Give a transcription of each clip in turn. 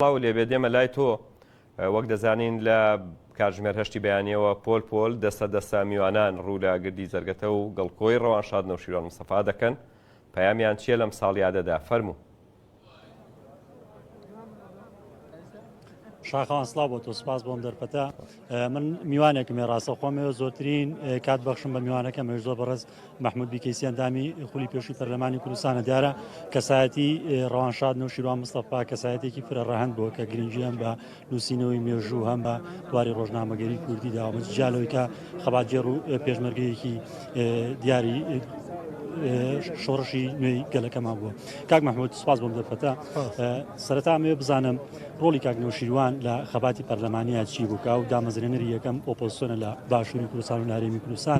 سڵاوو لێبێت دێمە لای تۆ وەک دەزانین لە کاتژمێر هەشتی بەیانیەوە پۆل پۆل دەستە دەستە میوانان ڕوو لە گردی جەرگەتە و گڵکۆی ڕەوان شاد نەوشیرۆن مستەفا دەکەن پەیامیان چییە لەم ساڵیادەدا فەرموو شاخەوان سڵاو بۆ تۆ سپاس بۆم دەرفەتە من میوانێکمێ ڕاستە خۆمەوە زۆرترین کات بەخشم بە میوانەکەم زۆر بەڕست مەحمود بیکەیسی ئەندامی خولی پێشووی پەرلەمانی کوردستانە دیارە کەسایەتی ڕەوانشاد نەوشیروان مستەفا کەسایەتێکی فرە ڕەهند بووە کە گرنگی هەم بە نووسینەوەی مێژوو هەم بە بواری ڕۆژنامەگەری کوردی داوامەج جیالەوەی کە خەباتگێڕ و پێشمەرگەیەکی دیاری شۆڕشی نوێی گەلەکەمان بووە کاک مححمود سوپاس بۆم دەفەتە سەرتا مێ بزانم ڕۆلی کاک نەوشیروان لە خەباتی پەرلەمانیا چی بووکە و دامەزرێنەری یەکەم ئۆپۆسۆنە لە باشووری کوردستان و نارێمی کوردستان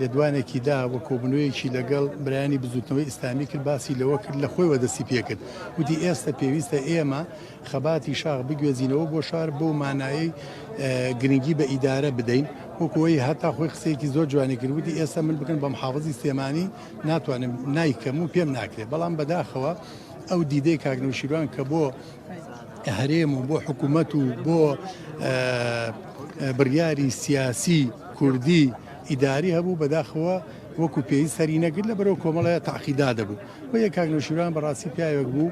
لێدوانێکی دا و کۆبوونەوەیەکی لەگەڵ برایانی بزووتنەوەی ئیسلامی کرد، باسی لەوە کرد لە خۆیەوە دەستی پێ کرد، وتی، ئێستە پێویستە ئێمە خەباتی شاخ بگوێزینەوە بۆ شار بەو مانایەی گرنگی بە ئیدارە بدەین، وەکو ئەوی هەتا خۆی قسەیەکی زۆر جوانی کرد، وتی، ئێستە من بگەن بە محافزی سلێمانی ناتوانم، نایکەم و پێم ناکرێ، بەڵام بەداخەوە ئەو دیدەی کاک نەوشیروان کە بۆ هەرێم و بۆ حکوومەت و بۆ بڕیاری سیاسی کوردی ئیداری هەبوو بەداخەوە وەکو پێی سەری نەگر لە بەرەو کۆمەڵە تاقیدا دەبوو و یە کاکنوشیران بەڕاستی پیاوێک بوو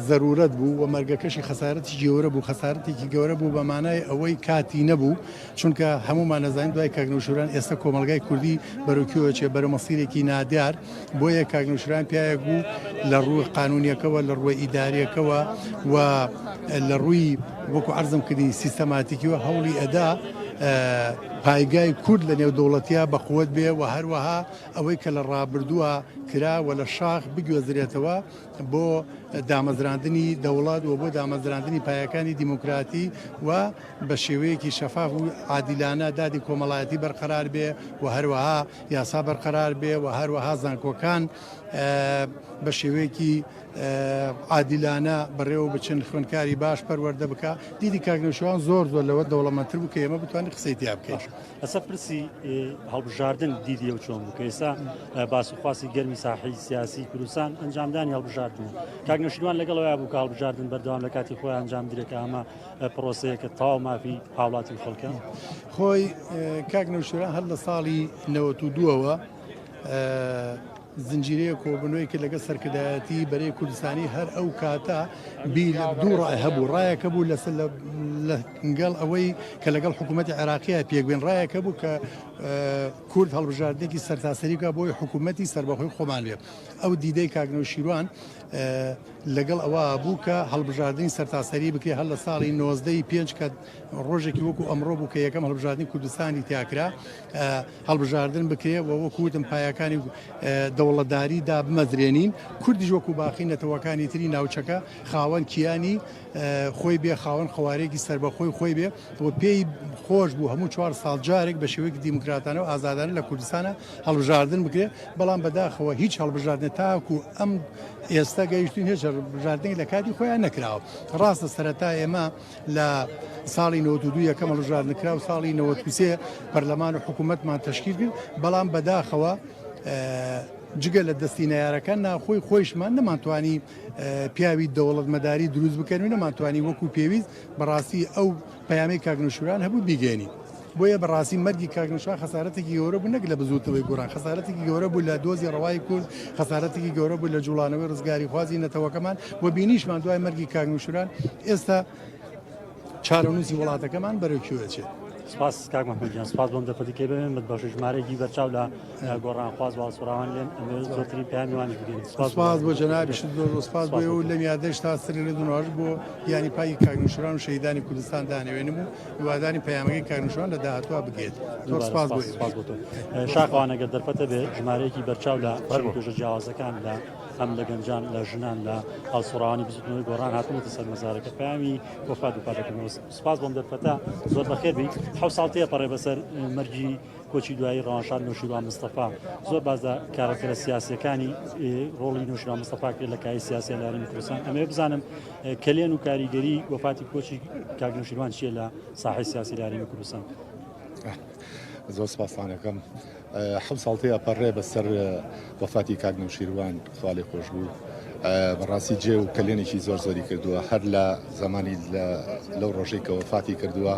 ضرورەت بوو و مەرگەکەشی خەسارەتی گەورە بوو خەسارەتێکی گەورە بوو بە مانای ئەوەی کاتی نەبوو چونکە هەموومان ئەزانین دوای کاک نەوشیروان ئێستا کۆمەڵگای کوردی بەرەو کوێوە چێ بەرەو مەسیرێکی نادیار بۆیە کاک نەوشیروان پیاوێک بوو لە ڕووی قانونیەکەوە لە ڕووی ئیداریەکەوە و لە ڕووی وەکو عەرزم کردی سیستەماتیکیوە هەوڵی ئەدا پایگای کورد لە نێو دەوڵەتیا بە قوت بێ و هەروەها ئەوەی کە لە ڕابردووە کرا و لە شاخ بگوێزرێتەوە بۆ دامەزراندنی دەوڵات و بۆ دامەزراندنی پایەکانی دیموکراتی و بە شێوەیەکی شەفاف و عادیلانە دادی کۆمەڵایەتی بەرقەرار بێ و هەروەها یاسا بەرقەرار بێ و هەروەها زانکۆکان بە شێوەیەکی عادیلانە بەڕێوە بچن خوێنکاری باش پەروەەردە بکە دیدی کاکنەشوان زۆر زۆر لەوە دەوڵەمەتر بکە ئێمە بتوانانی قسەی تیا بکەش ئەسە پرسی هەڵبژاردن دیدی و چۆن بکە ئێستا باسخواسی گەرمی ساحی سیاسی کوردستان ئەنجامدانی هەڵبژاردن کاکنەشوان لەگەڵەوە بوو کاڵبژاردن بەردەوام لە کاتی خۆیان ئەنجام درێکە ئەمە پرۆسەیەکە تاو مافی هاوڵاتی خەڵکە خۆی کاک نەوشێرا هەر لە ساڵی نەوە و دووەوە زنجیرەیە کۆبنەوەی کە لەگە سەرکردایەتی بەرەی کوردستانی هەر ئەو کاتە بیر دوو ڕای هەبوو ڕایەکە بوو لە لەگەڵ ئەوەی کە لەگەڵ حکوومەتتی عێراقیە پێکبێن ڕایەکە بوو کە کورد هەڵبژاردێکی سەرتاسەریکە بۆی حکوومەتتی سربەخۆی خۆمان بێ ئەو دیدەی کاگنە و شیروان لەگەڵ ئەوە بوو کە هەڵبژاردنی سەرتاسەری بکرێت هەر لە ساڵی نۆزدە ی پێنج کە ڕۆژێکی وەکو ئەمڕۆ بوو کە یەکەم هەڵبژاردنی کوردستانی تیا کرا هەڵبژاردن بکرێت و وەکو وتم پایەکانی دەوڵەتداری دابمەزرێنین کوردیش وەکو باقی نەتەوەکانی تری ناوچەکە خاوەن کیانی خۆی بێ خاوەن قەوارێکی سربەخۆی خۆی بێ و پێی خۆش بوو هەموو چوار ساڵ جارێک بە شێوەیەکی دیموکراتانە و ئازادانە لە کوردستانە هەڵبژاردن بکرێت، بەڵام بەداخەوە هیچ هەڵبژاردنێک تاکو ئەم ئێستا گەیشتوین هێچ هەڵبژاردنێک لە کاتی خۆیان نەکراوە، ڕاستە سەرەتا ئێمە لە ساڵی نەوەت و دوو یەکەم هەڵبژاردن کرا و ساڵی نەوەت و سێ پەرلەمان و حکوومەتمان تەشکیل کرد، بەڵام بەداخەوە جگە لە دەستی نەیارەکان ناوخۆی خۆیشمان نەمانتوانی پیاوی دەوڵەتمەداری دروست بکەین و نەمانتوانی وەکو پێویست بەڕاستی ئەو پەیامێک کاک نەوشیروان هەبوو بیگەیەنین بۆیە بەڕاستی مەرگی کاک نەوشیروان خەسارەتێکی گەورە بوو نەک لە بزووتنەوەی گۆڕان خەسارەتێکی گەورە بوو لە دۆزی ڕەوای کورد خەسارەتێکی گەورە بوو لە جوڵانەوەی ڕزگاریخوازی نەتەوەکەمان و بینیشمان دوای مەرگی کاک نەوشیروان ئێستا چارەنووسی وڵاتەکەمان بەرەو کوێ دەچێت سپاس کاک محمود گیان سپاس بۆم دەپەتی کەی بەمێن بەخش ژمارەیەکی بەرچاو لە گۆڕانخواز و هەڵسوڕاوان لێن ئەمەوێت زۆرترین پەیامی وانیش بگەینە. سوپاس بۆ سوپاس بۆ جەنابیشت زۆر زۆر سوپاس بۆ سوپاس ئێوە و بۆ تۆ. لەم یادەش تا سەری لە دونواش بۆ گیانی پاکی کاک نوشیروان و شەهیدانی کوردستان دانەوێنم و هیوادارین پەیامەکەی کاک نوشیروان لە داهاتووا بگەێت زۆر دووبارە سوپاس بۆ سوپاس سوپاس ئێوەش. بۆ تۆ شاخەوان ئەگەر دەرفەتە بێ ژمارەیەکی بەرچاو لە چین و توێژە جیاوازەکان لە هەم لە گەنجان لە ژنان لە هەڵسوڕاوانی بزوتنەوەی گۆڕان هاتبوونەتە سەر مەزارەکە پەیامی وەفات بە پاک دەکەمەوە سوپاس بۆم دەرفەتە زۆر بەخێر بێیت حەوت ساڵ تێپەڕێ بەسەر مەرگی کۆچی دوایی ڕەوانشاد نەوشیروان مستەفا زۆر باس لە کارەکتەرە سیاسیەکانی ڕۆڵی نەوشیروان مستەفا کرد لە کای سیاسی لە هەرێمی کوردستان ئەمەوێ بزانم کەلێن و کاریگەری وەفاتی کۆچی کاک نەوشیروان چیە لە ساحەی سیاسی لە هەرێمی کوردستان زۆر سپاسانەکەم حەوت ساڵتەی ئەپەڕێ بەسەر وەفاتی کاک نەوشیروان ساڵی خۆش بوو بەڕاستی جێ و کەلێنێکی زۆر زۆری کردووە هەر لە زمانی لەو ڕۆژەی کە وەفاتی کردووە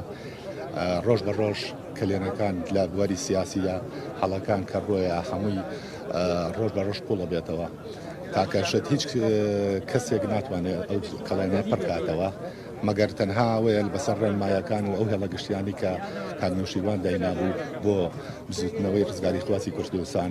ڕۆژ بە ڕۆژ کەلێنەکان لە بواری سیاسیدا حەڵەکان کە ڕۆیە هەمووی ڕۆژ بە ڕۆژ قوڵە بێتەوە تاکەشت هیچ کەسێک ناتوانێت ئەو کەڵێنە پڕکاتەوە مەگەر تەنها وەیە بەسەر ڕێنمایەکان و ئەو هێڵە گشتیانی کە کاک نوشیروان داینابوو بۆ بزوتنەوەی ڕزگاری خواسی کوردستان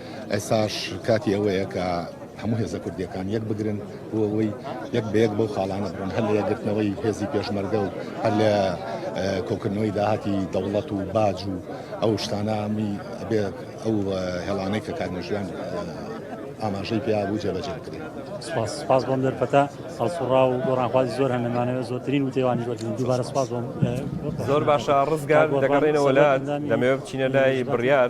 ئێستاش کاتی ئەوەیە کە هەموو هێزە کوردیەکان یەک بگرن بۆ ئەوەی یەک بەیەک بەو خاڵانە بڕۆن هەر لە یەکگرتنەوەی هێزی پێشمەرگە و هەر لە کۆکردنەوەی داهاتی دەوڵەت و باج و ئەو شتانامی بێت ئەو هێڵانەی کە کارمەژیان ئاماژەی پێ بوو جێبەجێ بکرێت سپاس سپاس بۆم دەرپەتا هەڵسوڕا و گۆڕانخوازی زۆر هەنەمانەوە زۆرترین وتێوانی وەرگن دووبارە سپاس بۆم زۆر باشە ڕزگار دەگەڕێنەوە لە دەمەوێت بچینە لای بڕیار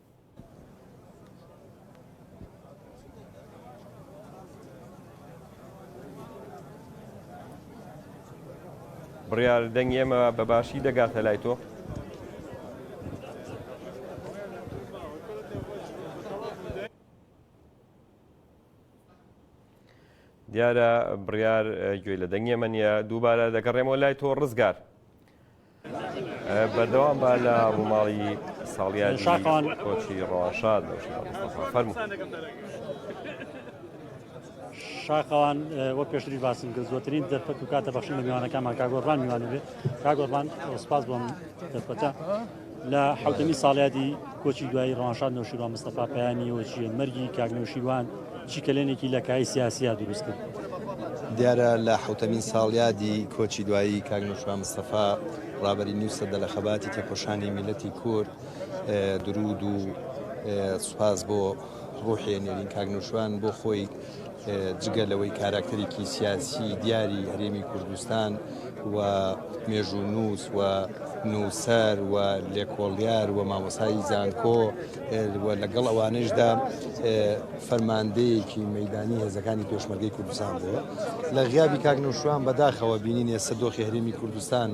بڕیار دەنگی ئێمە بە باشی دەگاتە لای تۆ دیارە بڕیار گوێی لە دەنگی ئەمە نیە دووبارە دەگەڕێمەوە لای تۆ ڕزگار بەردەوام بە لە ڕووماڵی ساڵیادی کۆچی ڕەواشاد شاخەوان وە پێشتری باسم کرد زۆترین دەرفەت و کاتە بەخشین لە میوانەکانمان کاگۆڕبان میوانە بێت کاگۆڕبان سپاس بۆم دەرفەتە لە حوتنی ساڵیادی کۆچی دوایی ڕەوانشاد نەوشیروان مستەفا پەیامی ئەوە چییە؟ مەرگی کاک نەوشیروان چی کەلێنێکی لە کایەی سیاسییا دروست کرد؟ دیارە لە حەوتەمین ساڵیادی کۆچی دوایی کاک نەوشیروان مستەفا ڕابەری نیو سەدە لە خەباتی تێکۆشانی میللەتی کورد دروود و سوپاس بۆ ڕوحی نێرین کاک نوشوان بۆ خۆی جگە لەوەی کاراکتەرێکی سیاسی دیاری هەرێمی کوردستان و مێژوو نووس و نووسەر و لێکۆڵیار و مامۆسایی زانکۆ و لەگەڵ ئەوانشدا فەرماندەیەکی مەدانی هێزەکانی پێشمەرگەی کوردستان بووە لە غیابی کاک نوشوان بەداخەوە بینینێ سەدۆخی هەرێمی کوردستان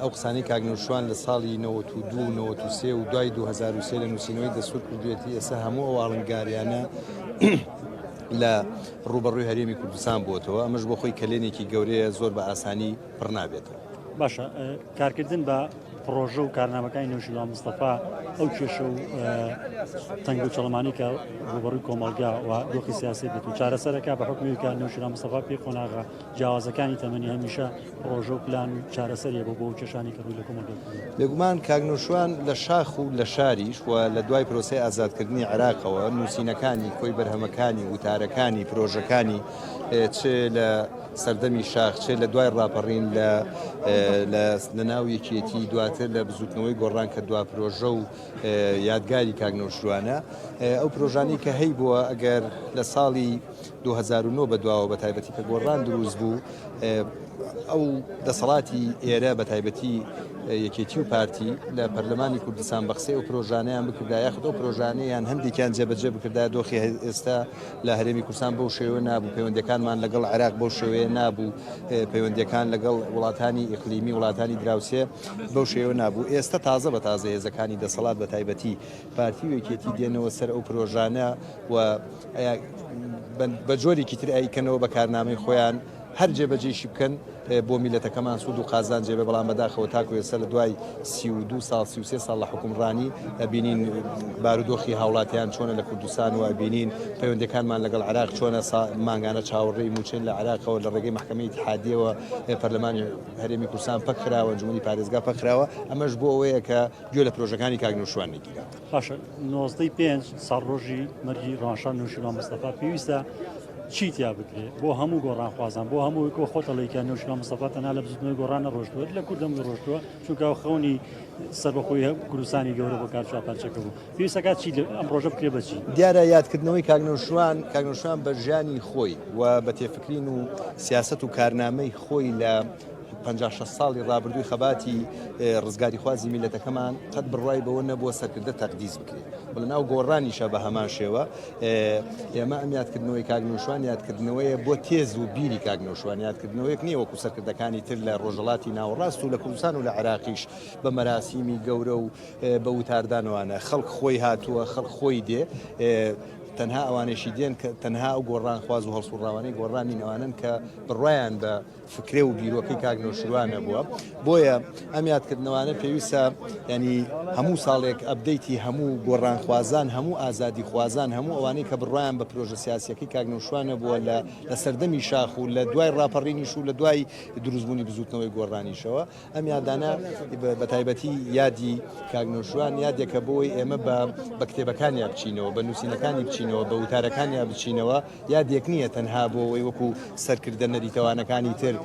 ئەو قسانەی کاک نەوشوان لە ساڵی نەوەت و دوو و نەوەت و سێ و دوای دوو هەزار و سێ لە نووسینەوەی دەستوور کردوویەتی، ئێستا هەموو ئەو ئاڵنگارییانە لە ڕووبەڕووی هەرێمی کوردستان بووەتەوە، ئەمەش بۆ خۆی کەلێنێکی گەورەیە زۆر بە ئاسانی پڕ نابێتەوە. باشە کارکردن بە پڕۆژە و کارنامەکانی نەوشیروان مستەفا ئەو کێشە و تەنگ و چڵمانی کە ڕوبەڕووی کۆمەڵگا و دۆخی سیاسی بێت و چارەسەرەکە بە حکومیکە نەوشیروان مستەفا پێی قۆناغە جیاوازەکانی تەمەنی هەمیشە پڕۆژە و پلان و چارەسەریە بۆ بۆ کێشانی کە ڕووی لە کۆمەڵگە دەکەن. بێگومان کاک نوشروان لە شاخ و لە شاریش و لە دوای پرۆسەی ئازادکردنی عێراقەوە نووسینەکانی، کۆی بەرهەمەکانی، وتارەکانی، پرۆژەکانی چ لە سەردەمی شاخ چ لە دوای ڕاپەڕین لە لە ناو یەکێتی دواتر لە بزووتنەوەی گۆڕان کە دوا پرۆژە و یادگاری کاک نوشروانە ئەو پرۆژانەی کە هەیبووە ئەگەر لە ساڵی دوو هەزار و نۆ بەدواوە بەتایبەتی کە گۆڕان دروست بوو ئەو دەسەڵاتی ئێرە بەتایبەتی یەکێتی و پارتی لە پەرلەمانی کوردستان بەخسی ئەو پرۆژانیان بکردا یاخود ئەو پرۆژانیان هەندێکیان جێبەجێ بکردا دۆخی ئێستا لە هەرێمی کوردستان بەو شێوە نابوو پەیوەندەکانمان لەگەڵ عراق بەو شێوەیە نابوو پەیوەندەکان لەگەڵ وڵاتانی ئیقلیمی وڵاتانی دراوسێ بەو شێوە نابوو ئێستا تازە بە تازە هێزەکانی دەسەڵات بە تایبەتی پارتی و یەکێتی دێنەوە سەر ئەو پرۆژانە و بە جۆرێکی تر ئەیکەنەوە بە کارنامەی خۆیان هەر جێبەجێشی بکەن بۆ میلەتەکەمان سوود و قازان جێبێ بەڵام بەداخەوە تاکو ئێستا لە دوای سی و دو ساڵ سی و سێ ساڵ لە حکومڕانی ئەبینین بارودۆخی هاوڵاتیان چۆنە لە کوردستان و ئەبینین پەیوەندەکانمان لەگەڵ عراق چۆنە مانگانە چاوەڕێی موچەین لە عراقەوە لە ڕێگەی محکمەی اتحادیەوە پەرلەمانی هەرێمی کوردستان پەکخراوە جمهوری پارێزگا پەکخراوە ئەمەش بۆ ئەوەیە کە گوێ لە پرۆژەکانی کاک نوشوان نەگیرا. باشە نۆزدەی پێنج ساڵ ڕۆژی مەرگی ڕاشان نوشیروان مستەفا پێویستە چی تیا بکرێت بۆ هەموو گۆڕانخوازان بۆ هەموو کۆ خۆتەڵێکە نوشیروان مستەفا تەنها لە بزوتنەوەی گۆڕان نەڕۆشتووە لە کوردم ڕۆشتووە چونکە خەونی سەربەخۆی هەم کوردستانی گەورە بۆ کارچا پارچەکە بوو پێویستەکە چی ئەم ڕۆژە بکرێ بەچی دیارە یادکردنەوەی کاک نوشوان کاک نوشوان بە ژیانی خۆی و بە تێفکرین و سیاست و کارنامەی خۆی لە پەنجا شەست ساڵی ڕابردووی خەباتی ڕزگاریخوازی میللەتەکەمان قەت بڕوای بەوە نەبووە سەرکردە تەقدیس بکرێت و لەناو گۆڕانیشە بە هەمان شێوە ئێمە ئەم یادکردنەوەی کاک نوشوان یادکردنەوەیە بۆ تێز و بیری کاک نوشوان یادکردنەوەیەک نییە وەکو سەرکردەکانی تر لە ڕۆژەڵاتی ناوەڕاست و لە کوردستان و لە عراقیش بە مەراسیمی گەورە و بە وتاردانوانە خەڵک خۆی هاتووە خەڵک خۆی دێ تەنها ئەوانێکی دێن کە تەنها ئەو گۆڕانخواز و هەڵسوڕاوانەی گۆڕانی نەوانن کە بڕایان بە فکرە و بیرۆکەی کاک نەوشیروان نەبووە بۆیە ئەم یادکردنەوانە پێویستە ینی هەموو ساڵێک ئەبدەیتی هەموو گۆڕانخوازان هەموو ئازادی خوازان هەموو ئەوانەی کە بڕوایان بە پرۆژە سیاسەکەی کاک نەوشوان نەبووە لە لە سەردەمی شاخ و لە دوای ڕاپەڕینیش و لە دوای دروستبوونی بزوتنەوەی گۆڕانیشەوە ئەم یادانە بە تایبەتی یادی کاک نەوشروان یادێکە بۆی ئێمە بە بە کتێبەکانیا بچینەوە بە نووسینەکانی بچینەوە بە وتارەکانیا بچینەوە یادێک نییە تەنها بۆ ئەوەی وەکو سەرکردە نەریتەوانەکانی تر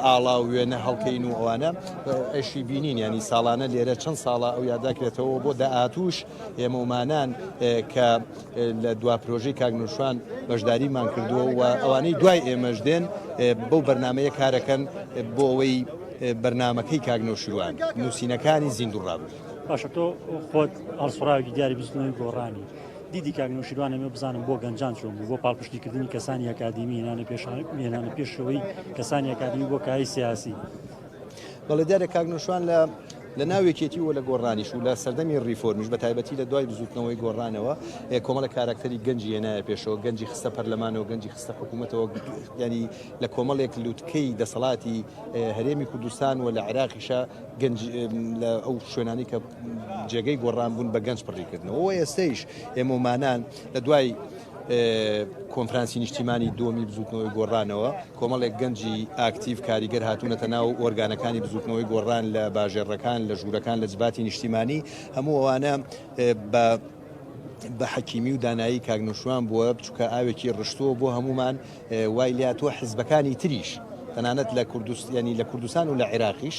ئاڵا و وێنە هەڵکەین و ئەوانە ئەشی بینین ینی ساڵانە لێرە چەند ساڵە ئەو یاداکرێتەوە بۆ داهاتوش ئێمە ومانان کە لە دوا پرۆژەی کاک نوشوان بەشداریمان کردووە و ئەوانەی دوای ئێمەش دێن بەو بەرنمەیە کارەکەن بۆ ئەوەی بەرنمەکەی کاک نوشروان نووسینەکانی زیندوو ڕابوو باشە تۆ خۆت ئەڵسڕاوی دیاری بزنەوەی گۆڕانی. دیدی کاک نوشیروانە مێ بزانم بۆ گەنجان چۆن بوو بۆ پاڵپشتیکردنی کەسانی ئەکادیمی هێنانە پێشان هێنانە پێشەوەی کەسانی ئەکادمی بۆ کای سیاسی بەڵێ دیارە کاک نۆشوان لە لە ناو یەکێتی و لە گۆڕانیش و لە سەردەمی ریفۆرمیش بە تایبەتی لە دوای بزوتنەوەی گۆڕانەوە کۆمەڵە کاراکتەری گەنجی هێنایە پێشەوە گەنجی خستە پەرلەمانەوە گەنجی خستە حکوومەتەوە ینی لە کۆمەڵێک لوتکەی دەسەڵاتی هەرێمی کوردستان و لە عراقیشە گەنج لە ئەو شوێنانی کە جێگەی گۆڕان بوون بە گەنج پڕیکردنەوە ئێستەیش ئێمەمانان لە دوای کۆنفرانسی نیشتیمانی دووەمی بزووتنەوەی گۆڕانەوە کۆمەڵێک گەنجی ئاکتیڤ کاریگەر هاتوونەتە ناو ئۆرگانەکانی بزووتنەوەی گۆڕان لە باژێڕەکان لە ژوورەکان لە جباتی نیشتیمانی هەموو ئەوانە بە بە حەکیمی و دانایی کاگنشوان بووە بچووکە ئاوێکی ڕشتووە بۆ هەمومان وای لیا تۆ حزبەکانی تریش تەنانەت لە کوردستانی لە کوردستان و لە عێراقیش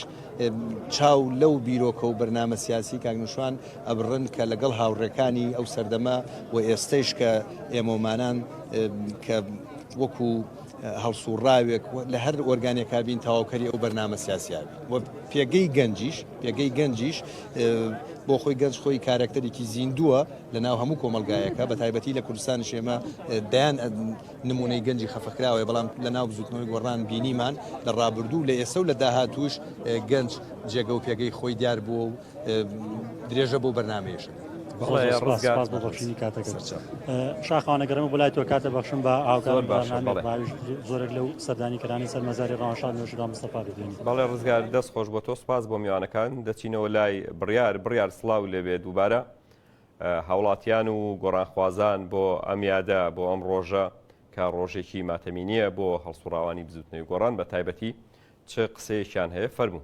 چاو لەو بیرۆکە و بەرنامە سیاسی کاگنشوان ئەبڕن کە لەگەڵ هاوڕێکانی ئەو سەردەمە و ئێستەیش کە ئێمەومانان کە وەکو هەڵسوڕاوێک لە هەر ئۆرگانێکا بین تەواوکەری ئەو بەرنامە سیاسیا و پێگەی گەنجیش پێگەی گەنجیش بۆ خۆی گەنج خۆی کارەکتەرێکی زیندووە لە ناو هەموو کۆمەلگایەکە بە تایبەتی لە کوردستان شێمە دەیان نمونەی گەنجی خەفەکراوە بەڵام لە ناو بزوتنەوەی گۆڕان بینیمان لە ڕابردوو لە ئێسە و لە داهاتوش گەنج جێگە و پێگەی خۆی دیار بووە و درێژە بۆ بەرنمەیەشن. بەخشینی کاتەکە شاخوانەگەڕێمە بۆ لای تۆ کاتە بەخشم بە ئاوکار زۆرێک لەو سەردانی کرانی سەر مەزاری ڕاشان نوێژرا مستەفا ببین بەڵێ ڕزگار دەست خۆش بۆ تۆ سپاس بۆ میوانەکان دەچینەوە لای بڕیار بڕیار سلااو لەبێت دووبارە هاوڵاتیان و گۆڕانخوازان بۆ ئەم یادە بۆ ئەم ڕۆژە کە ڕۆژێکی ماتەمینیە بۆ هەڵسوڕاوانی بزوتنەوەی گۆڕان بە تایبەتی چ قسەیەکیان هەیە فەرموو